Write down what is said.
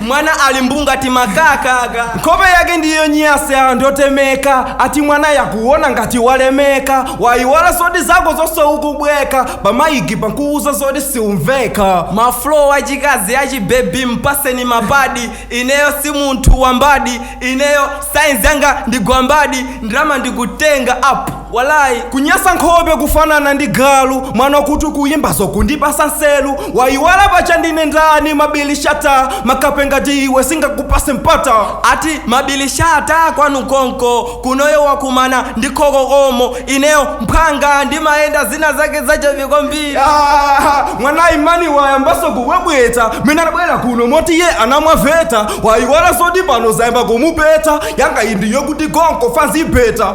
Mwana ali mbu ngati makaka aka. Nkhope yake ndiye yonyasa and yotemeka. Ati mwana yakuona ngati walemeka. Wayiwala zoti zako zonse ukubweka. Pamayigi pankuwuza zoti siumveka. Ma flow achikazi achibebi mpaseni mapadi. Ineyo si munthu wambadi. Ineyo science yanga ndi gwambadi. Ndalama ndikutenga up. Walayi kunyasa nkhope kufanana ndi galu mwana wakuti ukuyimbazo kundipasa nselu wayiwala pacha ndine ndani mabili shata makape ngati iwe singakupase mpata ati mabili shata kwanu konko kunoyo wakumana ndi khokokomo ineyo mphwanga ndimayenda zina zake zachevi kwambiri mwana imani wayambaso kuwebweta mene anabwera kuno moti ye anamwa veta wayiwala zoti pano zayamba kumupeta yanga indiyo kuti konko fazipeta